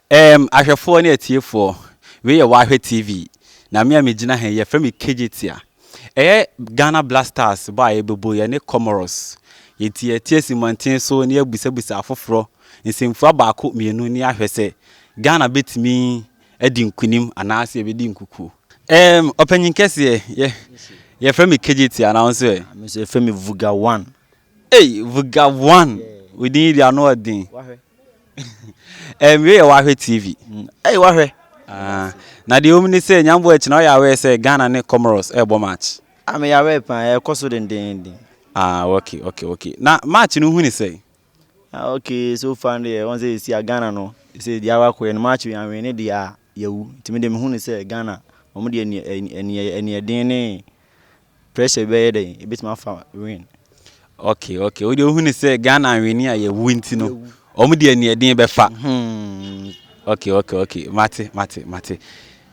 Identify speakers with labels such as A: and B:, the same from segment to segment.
A: Um, ahwɛfoɔ ne atiefoɔ wei yɛ wahwɛ tv na me a megyina ha yi yɛfrɛ me kegye tia Ɛyɛ Ghana Black Stars bɔ a yɛbɛbɔ yɛne Comoros. Yɛnti yɛteasi mmɔnten so na yɛabisabisa afoforɔ nsɛmfua baako mmienu na yɛahwɛ sɛ Ghana bɛtumi adi nkunim anaasɛ yɛbɛdi nkukuo. Ɛɛm, ɔpanyin kɛseɛ, yɛ, yɛfrɛ me KJT anaa wo nso ɛ? Me nso yɛfrɛ me
B: Vuga One. Ei Vga
A: one wo din yi deɛ ano ɔden Ɛɛ me wei yɛ wahwɛ TV Ei wahwɛ
B: Ah
A: na deɛ ewom ne sɛ Nyambo akyi na ɔyɛ aware sɛ Ghana ne Comoros ɛɛbɔ match Ah me yɛ aware paa
B: ɛɛkɔ so dendeenden Ah ok ok
A: ok na match no hu ne sɛn? Ah ok
B: so far no deɛ wɔn sɛ yɛsi a Ghana no sɛ deɛ awa kɔɛ no match wei anwene ne deɛ a yɛawu nti me deɛ me hu ne sɛ Ghana wɔn deɛ ɛni ɛni ɛni ɛni ɛden ne. Pressure bi bɛyɛ dɛn? Ebetumi afa wen. Ok
A: ok wode wohu ne sɛ Ghana anwene a yɛwu nti no wɔn deɛ neɛ den bɛfa. Hmm. Ok ok ok mate mate mate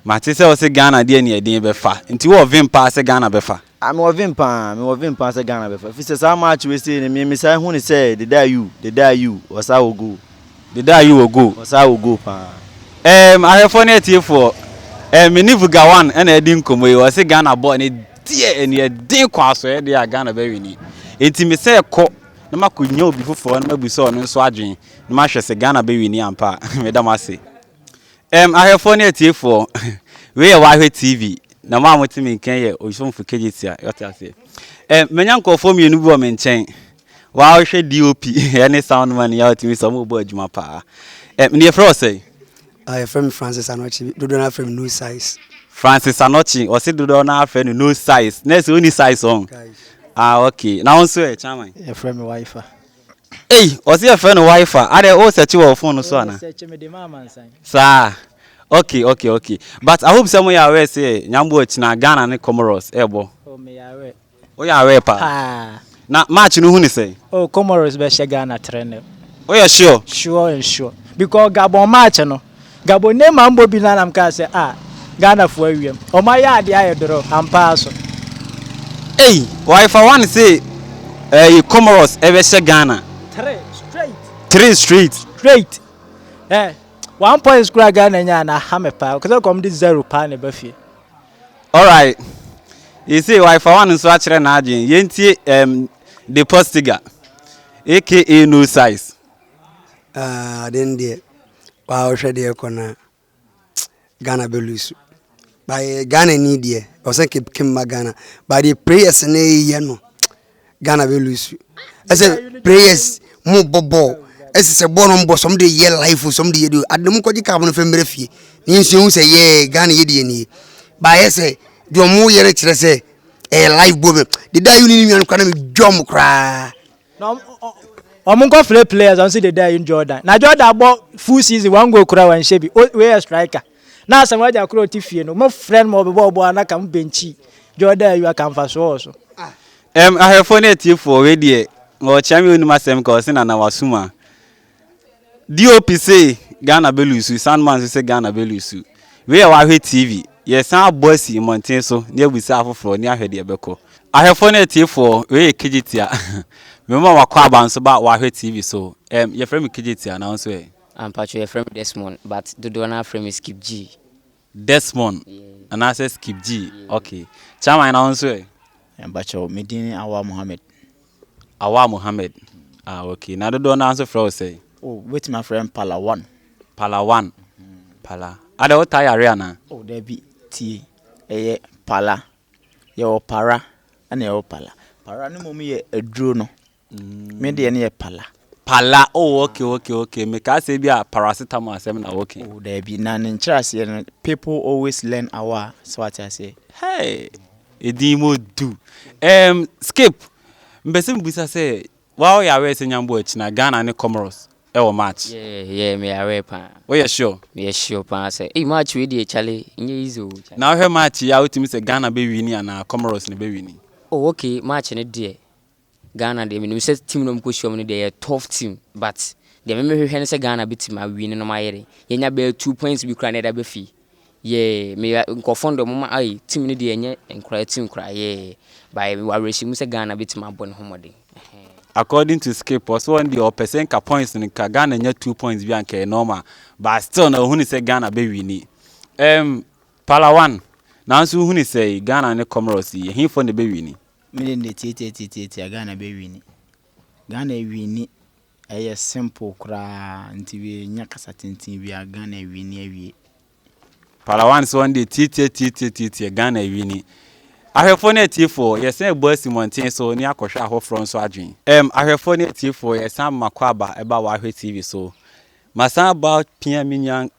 A: mate sɛ wɔsɛ Ghana deɛ neɛ den bɛfa nti wɔ vim paa sɛ Ghana bɛfa. Ah mewɔ vim paa
B: mewɔ vim paa sɛ Ghana bɛfa fi sɛ saa match wei sei no mmisa ehu ne sɛ deda yu deda yu wɔsa wɔ goal. Deda yi wɔ goal. Ɔsaa wɔ goal paa. Eem ahwɛfoɔ
A: ne atiefoɔ eem me ne Vugawan na adi nkɔmmɔ yi ɔse Ghana bɔɔl no deɛ ɛne ɛden kɔ asɔeɛ deɛ a Ghana bɛ wini enti me sɛ kɔ na makɔ nya obi foforɔ na mabisa ɔno nso adwen na mahwɛ sɛ Ghana bɛ wini ampa a meda mo ase eem ahwɛfoɔ ne atiefoɔ wei yɛ wahwɛ TV na mo a mote me nkan yɛ Osomfo Kegyetia yɛte aseɛ eem manya nkurɔfoɔ mmienu bi wɔ me nkyɛn Waa wo hwɛ DOP ɛne sound man yɛ a ɔtumi sɛ ɔmo bɔ adwuma paa. Ɛ ne yɛfrɛ wɔ sɛn? Ah yɛfrɛ me
C: Francis Anɔkye dodoɔ no afrɛ me no size. Francis Anɔkye
A: ɔse dodoɔ no afrɛ no no size na ɛsɛ ɔni size ɔn? Ah ok na wo nso ɛ chairman? Yɛfrɛ me Wifa.
D: Ei
A: ɔse yɛfrɛ no Wifa adɛ wo search wɔ wo phone no so ana? Me search mede ma amansan.
D: Saa
A: ok ok ok but I hope sɛ mo yɛ aware sɛ Nyambua kyina Ghana ne Comoros ɛbɔ? Oh meyɛ aware.
D: Wo yaree paa. Paa.
A: Na match no hu ne sɛn? Oh Comoros bɛ hyɛ
D: Ghana tre nil. Wo yɛ sure?
A: Sure and sure. Because
D: Gabon match no, Gabon Neymar mbɔ bi no ara na mkaa sɛ ah Ghana foɔ awiam. Ɔmo ayɛ adeɛ ayɛ doro ampa ara so. Ei
A: why fa one se ɛɛ Comoros ɛbɛ hyɛ Ghana? Tre straight. Tre straight. Straight. Eh
D: one points koraa Ghana nyaa no aha me paa. Ɔkasɛ nka ɔmo de zero paa na ɛba fie.
A: Alright, you see why fa one nso akyerɛ n'adwene. Yɛntie um, De Postiga, aka No Size. Ah,
C: aden deɛ, waa wohwɛ deɛ ɛkɔ no a, Ghana bɛlusu. But eh, Ghana ni deɛ, ɔsɛ kemma Ghana. But deɛ prayers no yɛ no, ghana bɛ lose ɛsɛ prayers mo bɔ bɔɔl ɛsɛ sɛ bɔɔl no mbɔ sɔm de yɛ life sɔm de yɛ de ade mo kɔgye kaa mo no fɛ mmerɛ fie ne yɛn sua hu sɛ yɛɛ ghana yɛ de yɛ nie baayɛ sɛ deɛ ɔmo yɛ no kyerɛ sɛ ɛyɛ life bɔ bɛ de da yi ne nua no kora na me dwa ɔmo koraa
D: ɔmo nkɔ frɛ players ɔmo si de da yi jordan na jordan bɔ full season one goal kora wɔn nhyɛ bi o wei yɛ striker Na asɛm w'agya koro ɔte fie no, mo frɛ no ma ɔbɛbɔ ɔbɔ a na ka mo bɛnkyi dwa ɔda ayi a ka mfasoɔ wɔ so. Ɛm,
A: ahwɛfoɔ ne atiefoɔ, wei deɛ ɔkyea me ɔnim asɛm ka ɔse Nana wasuma. DOP se Ghana bɛ luusu, Sandman nso se Ghana bɛ luusu. Wei yɛ w'ahwɛ TV, yɛsan abɔ asi mmɔnten so ne abisa afoforɔ ne ahwɛ deɛ ɛbɛkɔ. Ahwɛfoɔ ne atiefoɔ, wei yɛ Kegyetia. Mema mo akwaaba nso ba w'ahwɛ TV so. Ɛm, yɛfrɛ me Kegyetia, na wo nso ɛ? Ah mpakyɛw yɛfrɛ me
E: Desmond but dodoɔ no ara frɛ me Skip G. Desmond
A: anaasɛ Skip G ok. Chairman na wo nso ɛ? Mpakyɛw me
B: din ne Awaa Mohammed. Awaa Mohammed
A: ah ok na dodoɔ no ara nso frɛ wo sɛn? Oh wobɛtumi afrɛ me
B: Palawan. Palawan Pala
A: adɛ wo taa yare anaa? Oh dabi
B: tie ɛyɛ Pala yɛwɔ Para ɛna yɛwɔ Pala. Para no mmom yɛ aduro no. Me deɛ ne yɛ pala. Pala oh ok ok ok
A: me kaa sɛ bi a paracetamol asɛm na woke. Oh daabi na ne nkyerɛ
B: aseɛ no people always learn awa so ate aseɛ. Hey edin
A: mo du. Um, skip mpɛ sɛ mbisa sɛ wa woyɛ aware sɛ nyambo akyina Ghana ne Comoros ɛwɔ match. Yeah yeah me aware
E: paa. Woyɛ sure. Me yɛ
A: sure paa sɛ
E: ei match wei deɛ chale nyɛ easy o. Na wohwɛ match yi a
A: wotumi sɛ Ghana bɛ wini anaa Comoros no bɛ wini. Oh ok match
E: no deɛ. Ghana deɛ menim sɛ team no ɔmokɔhyia mu no deɛ ɛyɛ tough team but deɛ me mehwehwɛ ne sɛ Ghana bɛtumi a win no mayɛ dɛn yɛnya bɛyɛ two points bi koraa na ɛda bɛ fie yeah meyɛ nkorɔfoɔ no deɛ ɔmo ma ai team no deɛ ɛnyɛ nkoraa team koraa yeah but mewɔ awerɛhyɛ mu sɛ Ghana bɛtumi abɔ ne ho mmɔden ɛhɛn. According
A: to Skip, ɔse ɔno deɛ ɔpɛ sɛ nka points no nka Ghana nya two points bi a nka ɛyɛ normal but still na ɔhunu sɛ Ghana bɛ wini ɛɛm Palawan nanso wohunu sɛɛ Ghana ne Comoros yi ɛhefoɔ na ɛbɛ wini? Me de mede
F: tiatiatiatiatia Ghana bɛ wini. Ghana awini ɛyɛ simple koraa nti yɛnya kasa tenten biara Ghana awini awie. Palawan
A: so wɔn de tiatiatiatiatia Ghana awini. Ahwɛfoɔ ne atiefoɔ yɛsan ɛbɔ asi mmɔnten so ne akɔhwɛ ahoforɔ nso adwen. Erm ahwɛfoɔ ne atiefoɔ yɛsan makɔ aba ɛba w'ahwɛ TV so. Masan aba pia me nua.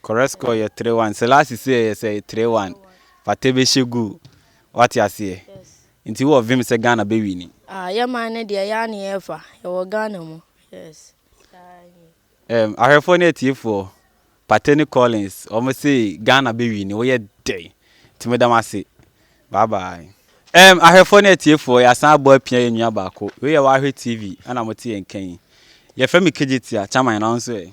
G: Correct
A: score yɛ three one sɛ last season yɛ sɛ three one fate bɛ hyɛ goal wate aseɛ nti wowɔ vim sɛ Ghana bɛ wini. Ah yɛ man no deɛ
G: yaa ne yɛɛfa yɛwɔ Ghana mu yes saa nie.
A: Ɛm ahwɛfoɔ ne atiefoɔ Partey ne Collins wɔn se Ghana bɛ wini woyɛ dɛn nti meda mo ase bye bye. Ɛm ahwɛfoɔ ne atiefoɔ yɛasan abɔ apia yɛn nua baako wei yɛ W'ahwɛ TV ɛna mote yɛn nka yi yɛfrɛ me Kegyetia Kyaman na wo nso ɛ?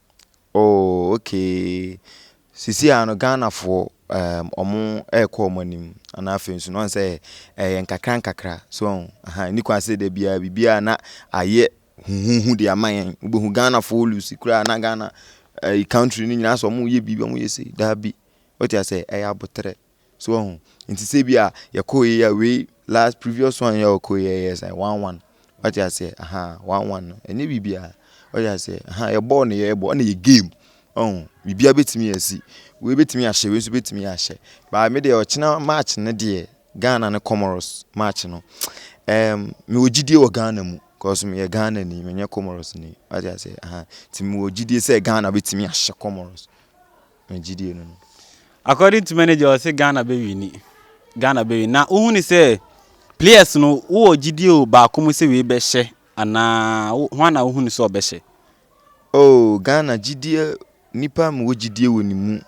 A: Oh
B: okay, sisi a no Ghana foɔ um wɔn ɛrekɔ wɔn anim ɛna afei nso no wɔn sɛ ɛyɛ nkakra nkakra so wɔn aha ɛni kwan sɛ dɛbi a biribi a na ayɛ huhuhu de ama yɛn wobɛhu Ghana foɔ lusi koraa na Ghana ɛyi country no nyinaa sɛ wɔn reyɛ biribi wɔn reyɛ sei daabi wote aseɛ ɛyɛ aboterɛ. So wahu? Nti sɛ bi a yɛkɔ yɛ a wei last previous one yɛ ɔkɔ yɛ yɛ sɛ one one. Wate aseɛ? Aha, one one no. Ɛnyɛ biribiara. Wate aseɛ? Aha, yɛ bɔɔl no yɛ bɔ ɛna yɛ game. Ɔho, biribiara bɛtumi asi. Wei bɛtumi ahyɛ, wei nso bɛtumi ahyɛ. Baa me deɛ ɔkyena match no deɛ Ghana ne Comoros match no. Um, mewɔ gyidie wɔ Ghana mu. Cause meyɛ Ghana ni, menyɛ Comoros ni. Wate aseɛ? Aha, nti mewɔ gyidie sɛ Ghana bɛtumi ahyɛ Comoros. Me gyidie no no. According to
A: manager ɔse Ghana bɛ wini Ghana bɛ wini na wohuni sɛ players no wowɔ gyidie o baako mu sɛ wei bɛhyɛ anaa hwan na wohuni sɛ ɔbɛhyɛ. Oh
B: Ghana gyidie nipa mu wɔ gyidie wɔ ne mu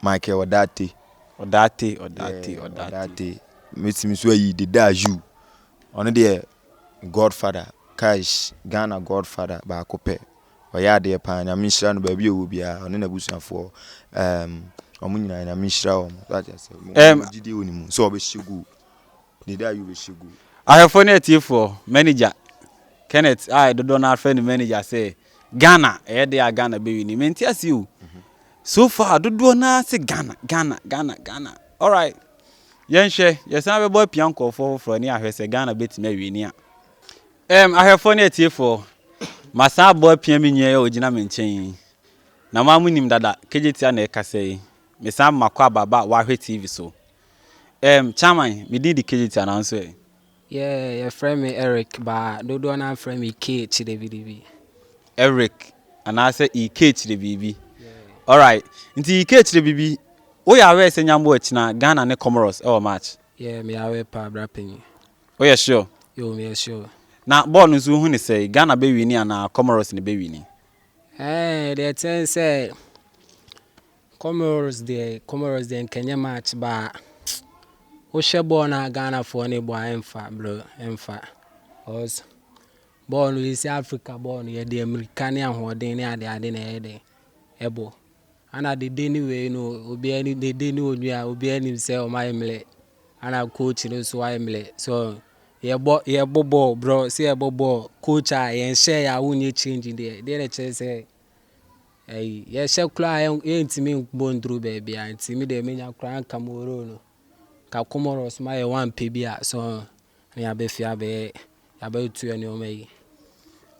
B: Michael Ɔdaate. Ɔdaate Ɔdaate Ɔdaate. Mɛtumi so ayi Deda Ayew ɔno deɛ godfather kaish Ghana godfather baako pɛ. ɔyɛ adeɛ paa nyame nhyira no baabi ɔwɔ biara ɔne n'abusuafoɔ um, wɔn nyinaa nyame nhyira wɔn wate ase Um, wɔn gyidie wɔ ne mu sɛ ɔbɛhyɛ gu ne da yi ɔbɛhyɛ gu ahwɛfoɔ ne atiefoɔ
A: manager kenneth a dodoɔ no afrɛ no manager sɛ ghana ɛyɛ deɛ a ghana bɛwi ni mente ase o so far dodoɔ no ara se ghana ghana ghana ghana alright yɛnhwɛ yɛsan bɛbɔ apia nkɔɔfoɔ foforɔ ne ahwɛ sɛ ghana bɛtumi awie ni a Ɛɛm, ahwɛfoɔ ne atiefoɔ, masan abɔ apia me nua yi a ɔgyina me nkyɛn yi. Na mo ara mo nim dada, Kejetia na ɛrekasa yi. Me san makɔ aba ba a wahwɛ TV so. Ɛɛm, Chairman, me din de Kejetia na wo nso ɛ? Yɛɛ,
H: yɛfrɛ me Eric, ba dodoɔ no ara frɛ me Kee Kyidebiribi. Eric,
A: anaa sɛ E. Kee Kyidebiribi. Yɛɛ. Alright, nti E. Kee Kyidebiribi, wo yɛ aware sɛ Nyambo akyina Ghana ne Comoros wɔ match? Yɛɛ, me yɛ aware paa,
H: bra panyin. Woyɛ
A: sure? Yo, meyɛ sure.
H: Na bɔɔl no nso wohu
A: ne sɛe? Ghana bɛ wini anaa Comoros ne bɛ wini? Ɛɛ,
H: deɛ ɛkyɛn sɛ Comoros deɛ Comoros deɛ nkɛnyɛ match ba a wohwɛ bɔɔl no a Ghanafoɔ no bɔ a ɛmfa bro ɛmfa cause bɔɔl no yɛsi Africa bɔɔl no yɛde mmirika ne ahoɔden ne adeade na ɛyɛ dɛ ɛbɔ ana dede ne wei no obiara ne dede ne onua obiara nim sɛ wɔayɛ mmerɛ Ana coach no nso ayɛ mmerɛ so yɛbɔ yɛbɔ bɔɔl brɔ sɛ yɛbɔ bɔɔl coach a yɛn hyɛ yɛ a wonyɛ change deɛ deɛ na kyerɛ sɛ ɛyi yɛhyɛ koraa yɛn yɛntumi bɔ nduru baabi a nti mi deɛ menya koraa nka mo role no nka kɔmɔrɔs ma yɛ wɔn ampɛ bi a so. ne yɛabɛfie abɛyɛ yɛabɛtua nneɛma yi.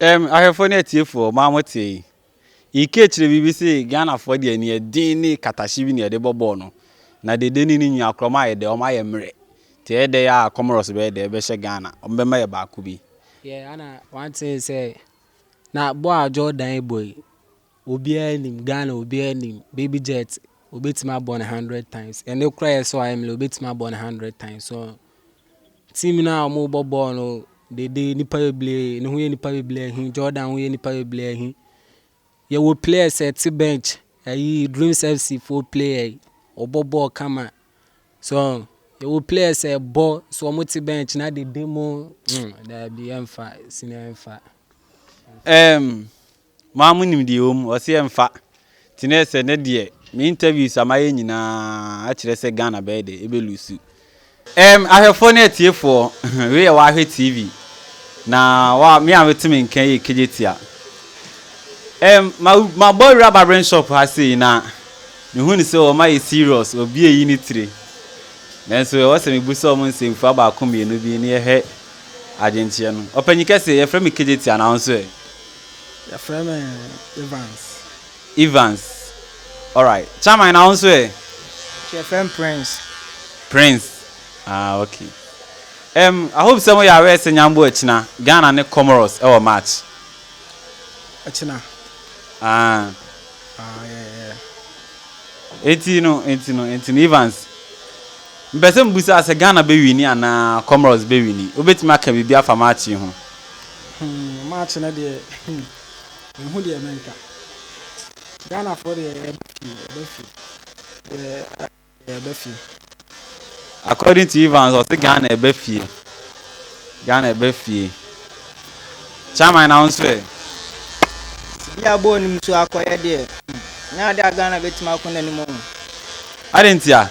H: Ɛm,
A: ahwɛfoɔ ne atiefoɔ, mo a mote yi, Ike kyerɛ biribi se Ghanafoɔ deɛ nea ɛden ne katahye bi na yɛde bɔ bɔɔl no, na dede ne ne nua korɔ ɔmo ayɛ dɛ, ɔmo ayɛ mmerɛ, nti ɛyɛ dɛ a Comoros bɛyɛ dɛ ɛbɛhyɛ Ghana, ɔmo bɛma yɛ baako bi. Yeah, ana
H: one thing sɛ, na bɔɔl a Jordan bɔ yi, Obiara nim Ghana obiara nim baby jet obetumi abɔ no hundred times ɛne kora yɛ sɛ ɔayɛ mele obetumi abɔ no hundred times so team no a wɔn bɔ bɔɔl no dede nipa bebree ne ho yɛ nipa bebree ahi Jordan ho yɛ nipa bebree ahi yɛwɔ players ɛte bench ɛyi Dreams FC fo player yi ɔbɔ bɔɔl kama so yɛwɔ players ɛbɔ so wɔn te bench na dede mo mm daabi ɛnfa sini ɛnfa. Um,
A: Mo ara monim deɛ ɛwɔ mu, ɔse ɛmfa. Nti na ɛsɛ nnɛ deɛ me interviews a mayɛ nyinaa akyerɛ sɛ Ghana bɛyɛ dɛ, ɛbɛ loose. Erm ahwɛfoɔ ne atiefoɔ, wei yɛ w'ahwɛ TV na wa me a mete me nka yi yɛ Kegyetia. Erm ma mabɔ awura barbering shop ha sei na me hu no sɛ wɔn ayɛ serious wɔ bi ayi ne tire nanso ɛwɔ sɛ me busa wɔn nsɛmfua baako mmienu bi na yɛhwɛ adwenkyeɛ no. Ɔpanyin kɛse yɛfrɛ me Kegyetia na wo nso ɛ? Yɛfrɛ
I: me Evans.
A: Evans, alright. Chairman, na wo nso ɛ? Yɛfrɛ
D: me Prince.
A: Prince, ah ok. Um, I hope sɛ moyɛ aware sɛ nyambo akyina, Ghana ne Comoros wɔ match.
I: Akyina? Ah. Ah,
A: yeah, yeah. Enti no, enti no, enti no, Evans. Mpɛ sɛ mbusa sɛ Ghana bɛ wini anaa Comoros bɛ wini. Wobɛtumi aka biribi afa match yi ho? Hmm
I: March no deɛ hmm menhu deɛ menka Ghanafoɔ deɛ yɛba fie yɛba fie yɛba fie yɛba fie.
A: According to Evans ɔse Ghana ɛba fie Ghana ɛba fie Chairman na wo nso ɛ?
D: Sidi abɔɔ nim so akɔyɛ deɛ hmm nyɛ adeɛ a Ghana bɛtumi akɔ n'anim o. Adɛn ntia?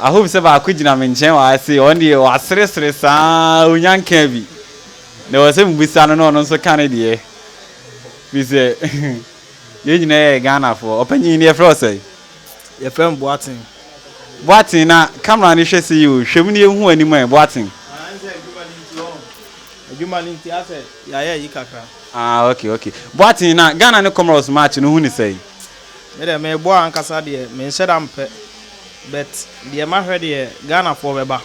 A: I hope sɛ baako gyina me nkyɛn wɔ ha sei, ɔno deɛ waseresere saa ara ɔnya nkaa bi. Na ɛwɔ sɛ mebusa no na ɔno nso ka ne deɛ. Firi sɛ yɛn nyinaa yɛ Ghanafoɔ. Ɔpanyin no yɛfrɛ wo sɛn? Yɛfrɛ me
I: Boateng.
A: Boateng, na camera no hwɛ sei o, hwɛ mu na yɛhu w'anim ɛ, Boateng. Ɛne sɛ adwuma no nti ɔho,
I: adwuma no nti asɛ yɛayɛ ayi kakra. Ah okay okay.
A: Boateng, na Ghana ne Comoros match no wohu no sɛn? Me deɛ mebɔ
I: a ankasa deɛ menhyɛda mpɛ but deɛ mahwɛ deɛ Ghana foɔ bɛba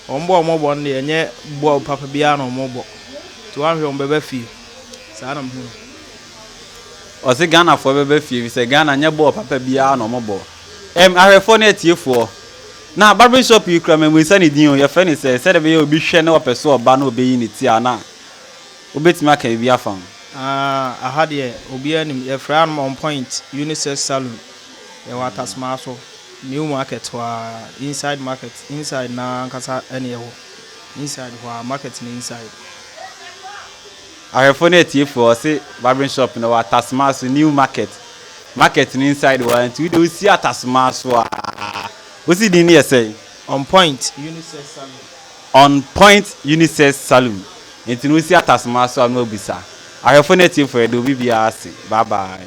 I: wɔn bɔ a wɔn bɔ no deɛ ɛnyɛ bɔɔl papa biara na wɔn bɔ nti woanhwɛ wɔn bɛba fie saa na mehu no.
A: Ɔse Ghana foɔ bɛba fie efisɛ Ghana nyɛ bɔɔl papa biara na wɔn bɔ. Ɛm ahwɛfoɔ ne atiefoɔ na barbering shop yi kura mammisa ne din o yɛfrɛ no sɛ sɛdeɛ ɛbɛyɛ obi hwɛ na ɔpɛ sɛ ɔba na ɔbɛyi ne ti a na Wobɛtumi aka biribi afa ho? Aah aha
I: deɛ obiara nim yɛfrɛ hanom on point unisex saloon yɛwɔ atasmaa so new market hɔ aa inside market inside no aa ankasa ne yɛwɔ inside hɔ aa market no inside.
A: Ahwɛfoɔ ne atiefoɔ ɔse barbering shop no wɔ atasmaa so new market market no inside hɔ aa nti wodeɛ wosi atasmaa so aa wosi din no yɛ sɛn? On point
I: unisex saloon. On point unisex saloon nti no wosi
A: atasoma so a na wabisa ahwɛfo ne atiefo ɛde obi biara ase bye bye.